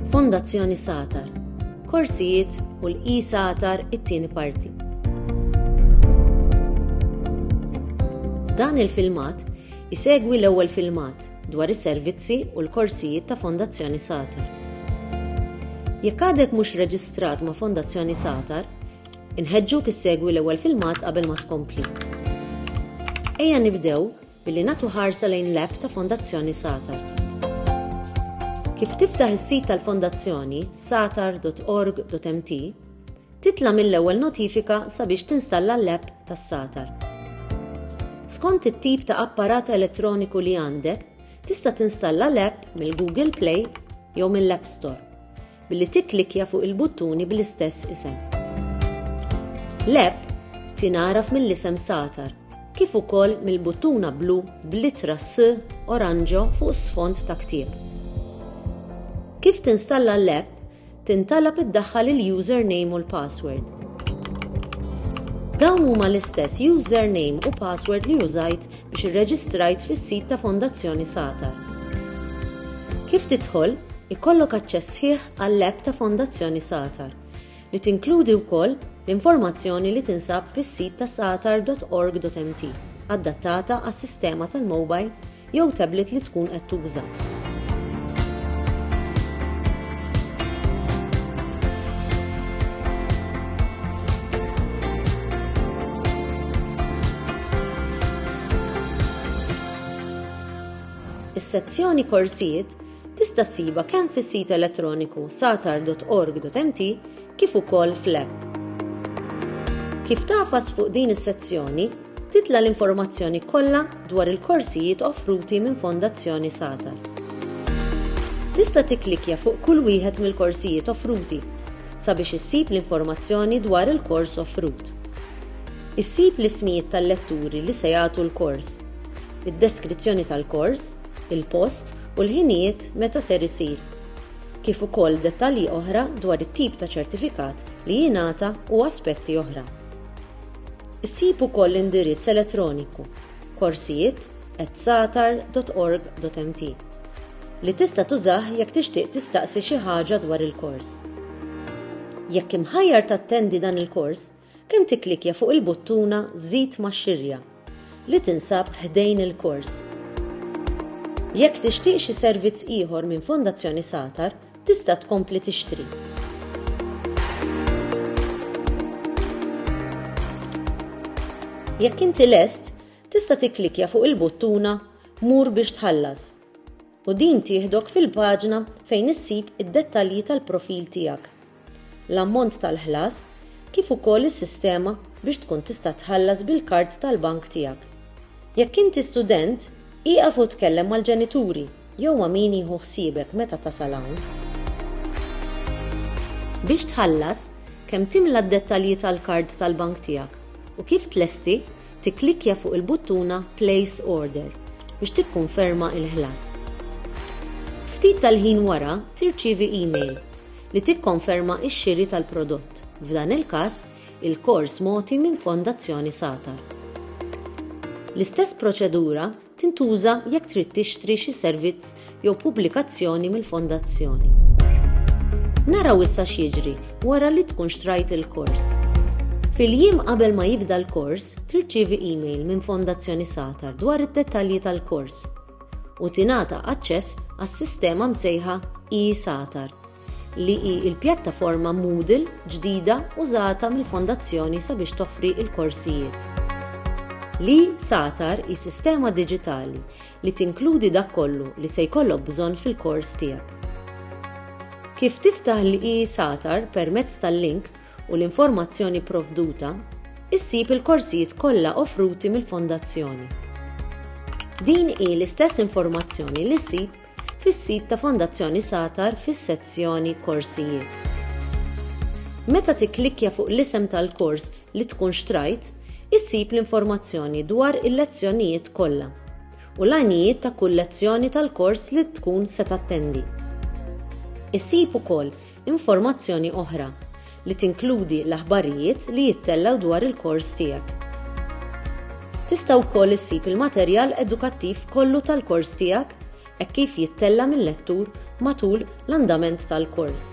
Fondazzjoni Satar, korsijiet u l-i Satar it-tieni parti. Dan il-filmat isegwi l-ewwel filmat dwar is-servizzi u l-korsijiet ta' Fondazzjoni Satar. Jekk għadek mhux reġistrat ma' Fondazzjoni Satar, Inħeġġuk issegwi l-ewwel filmat qabel ma tkompli. Ejja nibdew billi nagħtu ħarsa lejn l-app ta' Fondazzjoni Satar. Kif tiftaħ is-sit tal-Fondazzjoni satar.org.mt, titla' mill-ewwel notifika sabiex tinstalla l-app tas-Satar. Skont it-tip ta' apparat elettroniku li għandek, tista' tinstalla l-app mill-Google Play jew mill-App Store. billi tikklikkja fuq il-buttuni bl-istess isem. L-app tingħaraf mill-isem Satar kif ukoll mill-buttuna blu bl-ittra S oranġo fuq sfond ta' ktieb. Kif tinstalla l-app, tintalab iddaħħal il-username u l-password. Dawn huma l-istess username u password li użajt biex irreġistrajt fis-sit ta' Fondazzjoni Satar. Kif tidħol, ikollok aċċess sħiħ għall-app ta' Fondazzjoni Satar, li tinkludi wkoll l-informazzjoni li tinsab fis-sit ta' satar.org.mt, adattata għas-sistema tal-mowbajl jew tablet li tkun qed tuża. Is-sezzjoni Korsijiet tista' ssibha kemm fis-sit elettroniku satar.org.mt kif ukoll fl-app. Kif tafas fuq din is-sezzjoni, Titla' l-informazzjoni kollha dwar il-korsijiet offruti minn Fondazzjoni Satar. Tista' tikklikkja fuq kull wieħed mill-korsijiet offruti sabiex issib l-informazzjoni dwar il-kors offrut. Issib l-ismijiet tal-letturi li se jagħtu l-kors, id-deskrizzjoni tal-kors, il-post u l-ħinijiet meta ser isir, kif ukoll dettalji oħra dwar it-tip ta' ċertifikat li jingħata u aspetti oħra. Issib ukoll l-indirizz elettroniku korsijiet@satar.org.mt li tista' tużah jekk tixtieq tistaqsi xi ħaġa dwar il-kors. Jekk imħajjar tattendi dan il-kors, kemm tikklikkja fuq il-buttuna Żid max-xirja li tinsab ħdejn il-kors. Jekk tixtieq xi servizz ieħor minn Fondazzjoni Satar, tista' tkompli tixtri. Jekk inti lest, tista' tikklikja fuq il-buttuna Mur biex tħallas u din tieħdok fil-paġna fejn issib id-dettalji tal-profil tiegħek, l-ammont tal-ħlas kif ukoll is-sistema biex tkun tista' tħallas bil-kard tal-bank tiegħek. Jekk inti student, ieqaf u tkellem mal-ġenituri Jew ma' min jieħu ħsiebek meta tasal hawn. Biex tħallas, kemm timla d-dettalji tal-kard tal-bank tiegħek u kif tlesti, tikklikkja fuq il-buttuna Place Order biex tikkunferma l-ħlas. Ftit tal-ħin wara tirċievi email li tikkonferma x-xiri tal-prodott, f'dan il-każ, il-kors mogħti minn Fondazzjoni Satar. L-istess proċedura tintuża jekk trid tixtri xi servizz jew pubblikazzjoni mill-Fondazzjoni. Naraw issa x'jiġri wara li tkun xtrajt il-kors. Fil-jiem qabel ma jibda l-kors, tirċievi email minn Fondazzjoni Satar dwar id-dettalji tal-kors u tingħata aċċess għas-sistema msejħa e-Satar. li hi l-pjattaforma Moodle ġdida użata mill-Fondazzjoni sabiex toffri l-korsijiet. L-e-Satar hi sistema diġitali li tinkludi dak kollu li se jkollok bżonn fil-kors tiegħek. Kif tiftaħ l-e-Satar permezz tal-link u l-informazzjoni pprovduta, issib il-korsijiet kollha offruti mill-Fondazzjoni. Din hi l-istess informazzjoni li ssib fis-sit ta' Fondazzjoni Satar fis-sezzjoni Korsijiet. Meta tikklikkja fuq l-isem tal-kors li tkun xtrajt, issib l-informazzjoni dwar il-lezzjonijiet kollha u l-għanijiet ta' kull lezzjoni tal-kors li tkun se tattendi. Issib ukoll informazzjoni oħra, li tinkludi l-aħbarijiet li jittellgħu dwar il-kors tiegħek. Tista' wkoll issib il-materjal edukattiv kollu tal-kors tiegħek hekk kif jittella' mil-lettur matul l-andament tal-kors.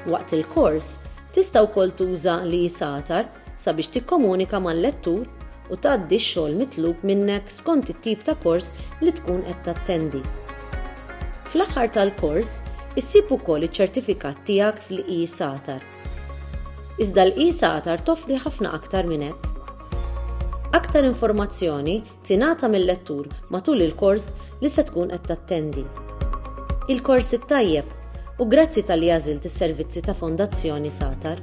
Waqt il-kors, tista' wkoll tuża l-e-satar sabiex tikkomunika mal-lettur u tgħaddi x-xogħol mitlub minnek skont it-tip ta' kors li tkun qed tattendi. Fl-aħħar tal-kors, issib ukoll iċ-ċertifikat tiegħek fl-e-SATAR. Iżda l-e-SATAR toffri ħafna aktar minn hekk. Aktar informazzjoni tingħata mil-lettur matul il-kors li se tkun qed tattendi. Il-kors it-tajjeb u grazzi talli għażilt is-servizzi ta' Fondazzjoni Satar.